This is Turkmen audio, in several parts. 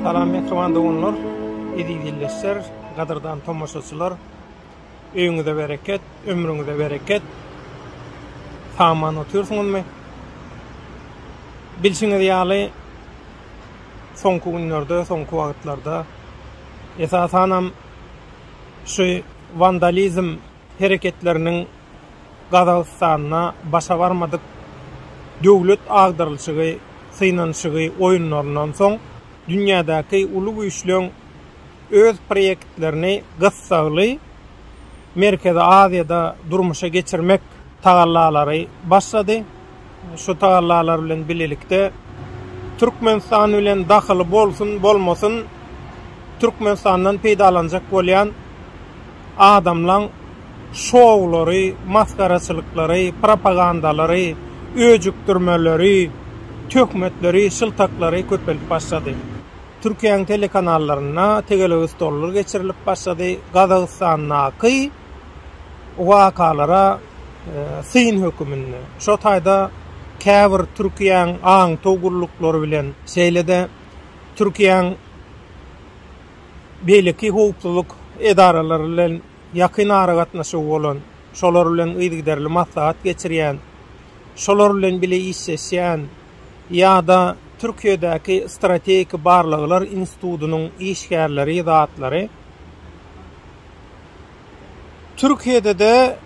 Salam Mehriban doganlar, eziz ildeşler, gadyrdan tomaşaçylar. Öýüňize bereket, ömrüňize bereket. Saman otyrsyňyzmy? Bilşiňiz ýaly, soňky günlerde, soňky wagtlarda esasanam Şu wandalizm hereketleriniň Gazagystanda başa barmadyk döwlet agdarylyşygy, synanyşygy oýunlaryndan soň dünýädäki uly güýçleň öz proýektlerini gyssagly Merkezi Aziýada durmuşa geçirmek tagallalary başlady. Şu tagallalar bilen bilelikde Türkmenistan bilen dahyly bolsun, bolmasyn, Türkmenistandan peýdalanjak bolýan adamlaň şoulary, masgaraçylyklary, propagandalary, öjükdirmeleri, töhmetleri, şyltaklary köpeldip başlady. Türkiýäň telekanallarynda tegelegi stollar geçirilip başlady, Gazagystandaky, wakalara syn höküminde, şo taýda käbir Türkiýäň aňtaw gulluklary bilen, şeýle-de Türkiýäň beýleki howpsuzlyk edaralary bilen ýakyn aragatnaşygy bolan, şolar bilen yzygiderli maslahat geçirýän, şolar bilen bile işleşýän ýa-da Türkiýedäki Strategik barlaglar institutynyň işgärleri, zatlary, Türkiýede-de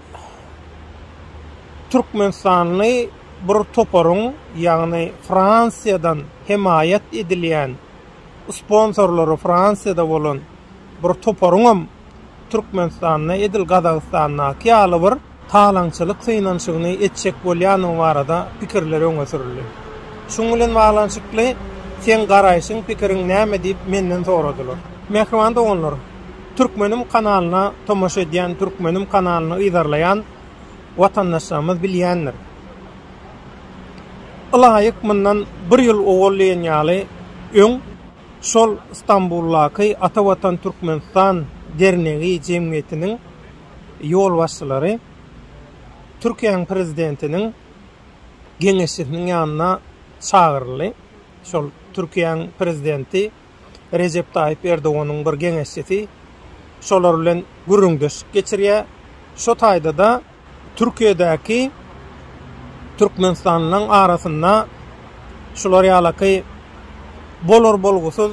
türkmenistanly bir toparyň, ýagny Fransiýadan hemaýat edilýän, sponsorlary Fransiýada bolan bir toparyňam Türkmenistanda edil Gazagystandaky ýaly bir talaňçylyk synanyşygyny etjek bolýandygy barada pikirler öňe sürüldi. Şunuň bilen baglanyşykly seň garaýşyň, pikiriň näme diýip menden soradylar. Mähriban doganlar, Türkmenim kanalyna tomaşa edýän, Türkmenim kanalyny yzarlaýan watandaşlarymyz bilýändir. Ylaýyk mundan bir ýyl owal diýen ýaly öň şol Stambuldaky Ata Watan Türkmenistan dernegi jemgyýetiniň ýolbaşçylary Türkiýäniň Prezidentiniň geňeşçisiniň ýanyna çagyryldy. Şol Türkiýäniň Prezidenti Rejep Taýyp Erdoganyň bir geňeşçisi şolar bilen gürrüňdeşlik geçirýär. Şo taýda-da Türkiýedäki türkmenistanlylaryň arasynda şular ýalaky bolar-bolgusyz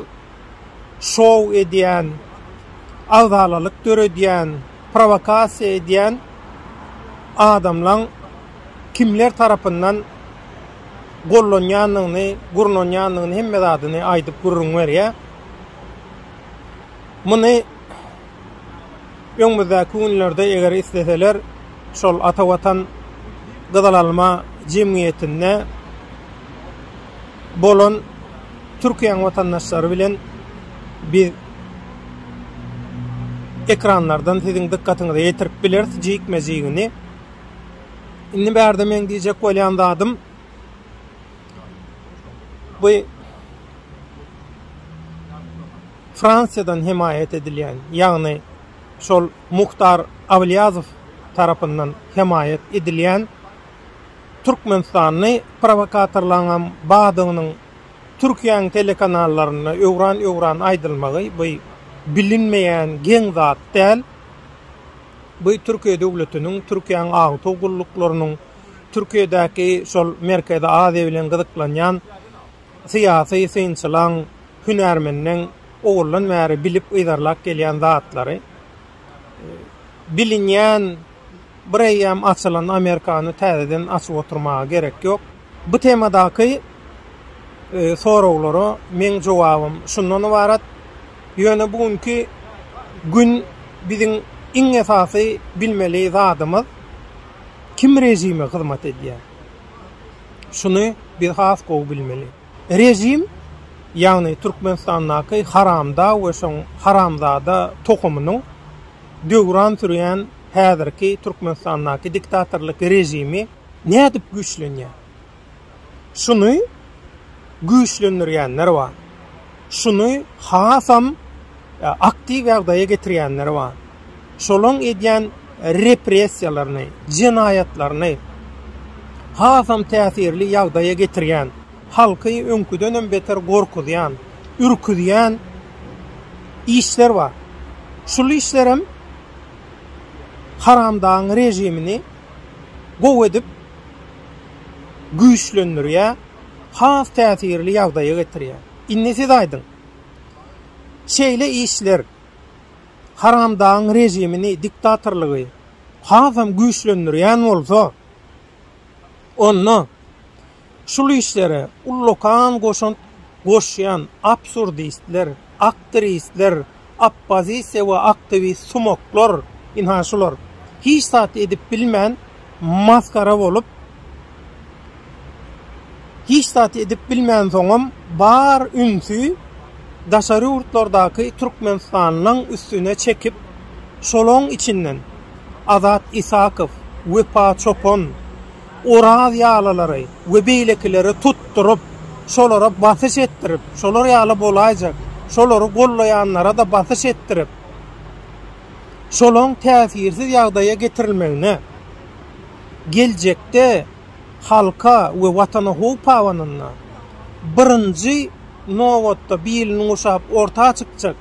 şou edýän, agzalalyk döredýän, prowokasiýa edýän adamlaň kimler tarapyndan gollanýandygyny, gurnanýandygyny hemme zadyny aýdyp gürrüň berýär. Muny. öňümizdäki günlerde eger isleseler şol Ata Watan gyzyl alma jemgyýetinde bolan Türkiýäň watandaşlary bilen biz ekranlardan siziň dykgatyňyza ýetirip bileris jikme-jigini. Indi bärde meň diýjek bolýan zadym, Bu Fransiýadan hemaýat edilýän, ýagny şol Muhtar Awlyýazow tarapyndan hemaýat edilýän türkmenistanly prowokatorlaryňam bardygynyň Türkiýäň telekanallarynda öwran-öwran aýdylmagy bu bilinmeýän geň zat däl. Bu Türkiýe döwletiniň, Türkiýäň agytaw gulluklarynyň, Türkiýedäki şol Merkezi Aziýa bilen gyzyklanýan syýasy synçylaň, hünärmenleň owaldan bäri bilip yzarlap gelýän zatlary. Bilinýän bir eýýäm açylan Amerikany täzeden açyp oturmaga gerek ýok. Bu temadaky soraglara meň jogabym şundan ybarat, ýöne bu günki gün biziň iň esasy bilmeli zadymyz, kim režime hyzmat edýär? Şuny biz has gowy bilmeli. Režim, ýagny Türkmenistandaky haramdag we şoň haramzada tohumynyň döwran sürýän häzirki Türkmenistandaky diktatorlyk režimi nädip güýçlenýär? şuny güýçlendirýänler bar, şuny hasam aktiw ýagdaýa getirýänler bar. Şolaň edýän repressiýalaryny, jenaýatlaryny hasam täsirli ýagdaýa getirýän, halky öňküdenem beter gorkuzýan, ürküzýän işler bar. Şul işlerem haramdagyň režimini gowy edip güýçlendirýär, has täsirli ýagdaýa getirýär. Indi siz aýdyň, şeýle işler haramdagyň režimini, diktatorlygy hasam güýçlendirýän bolsa, onda şul işlere ullakan goşant goşýan absurdistler, Aktirisler, oppozisiýa we aktiwist sumaklar, ynha şular, hiç zat edip bilmän masgara bolup, hiç zat edip bilmänsoňam bar ünsi daşary ýurtlardaky türkmenistanlyň üstüne çekip, şolaň içinden Azat Isakow, Wepa Çopan, Oraz ýalylary we beýlekileri tutduryp, şolara basyş etdirip, şolar ýaly bolaýjak, şolary gollaýanlara-da basyş etdirip, şolaň täsirsiz ýagdaýa getirilmegine, geljekde halka we Watana howp habanynda, birinji nobatda bilini guşap orta çykjak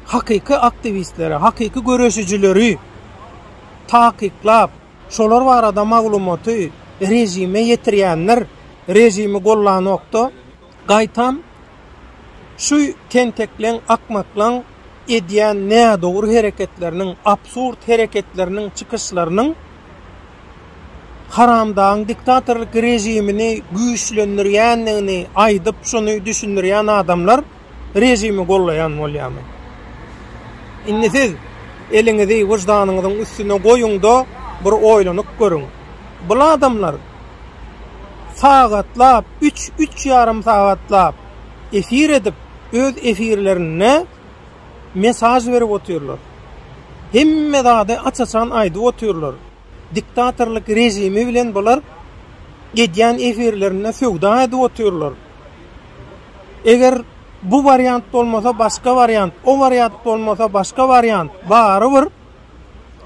hakyky aktiwistleri, hakyky göreşijileri takyklap, Şolar barada maglumaty režime ýetirýänler režimi gollanokda, gaýtam şu tentekleň, akmaklaň edýän nädogry hereketleriniň, absurd hereketleriniň, çykyşlarynyň haramdagyň diktatorlyk režimini güýçlendirýändigini aýdyp, şuny düşündirýän adamlar, režimi gollaýan bolýamy? Indi siz eliňizi wyždanyňyzyň üstüne goýuň-da, bir oýlanyp görüň. Bul adamlar sagatlap, üç, üç ýarym sagatlap efir edip, öz efirlerinde mesaž berip otyrlar. Hemme zady aç-açan aýdyp otyrlar. diktatorlyk režimi bilen bular edýän efirlerinde söwda edip otyrlar. Eger bu wariant bolmasa başga wariant, o wariant bolmasa başga wariant barybir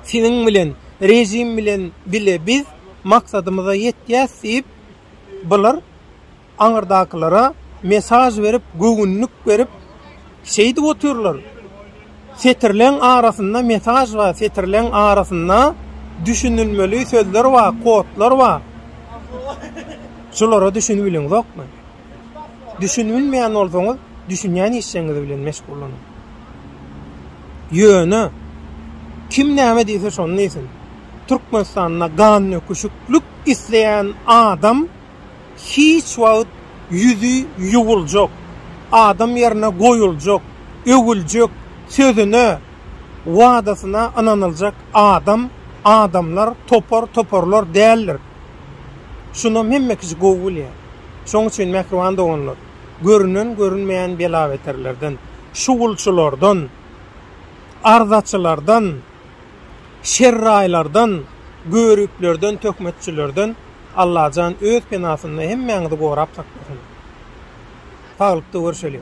siziň bilen režim bilen bile biz maksadymyza ýetýäs diýip bular Aňyrdakylara mesaj berip, göwünlik berip, şeýdip otyrlar. Setirleň arasynda mesaj bar, setirleň arasynda düşünilmeli sözler bar, kodlar bar. Şolara düşünibiliňzokmy? Düşünibilmeýän bolsaňyz, düşünýän işleňiz bilen meşgullanyň. Ýöne, kim näme diýse şony diýsin. Türkmenistanda gandöküşiklik isleýän adam, hiç wagt ýüzi ýuwuljak, adam ýerine goýuljak, öwüljek, sözüne, wadasyna ynanyljak adam, adamlar topar, toparlar däldir. Şunam hemme kişi gowy bilýär. Şoň üçin, mähriban doganlar, görünen, görünmeýän bela-beterlerden, şugulçylardan, arzaçylardan, Şerraýlardan, göriplerden, töhmetçilerden Allajan öz penasynda hemmäňizi gorap saklasyn. Saglykda görşeliň.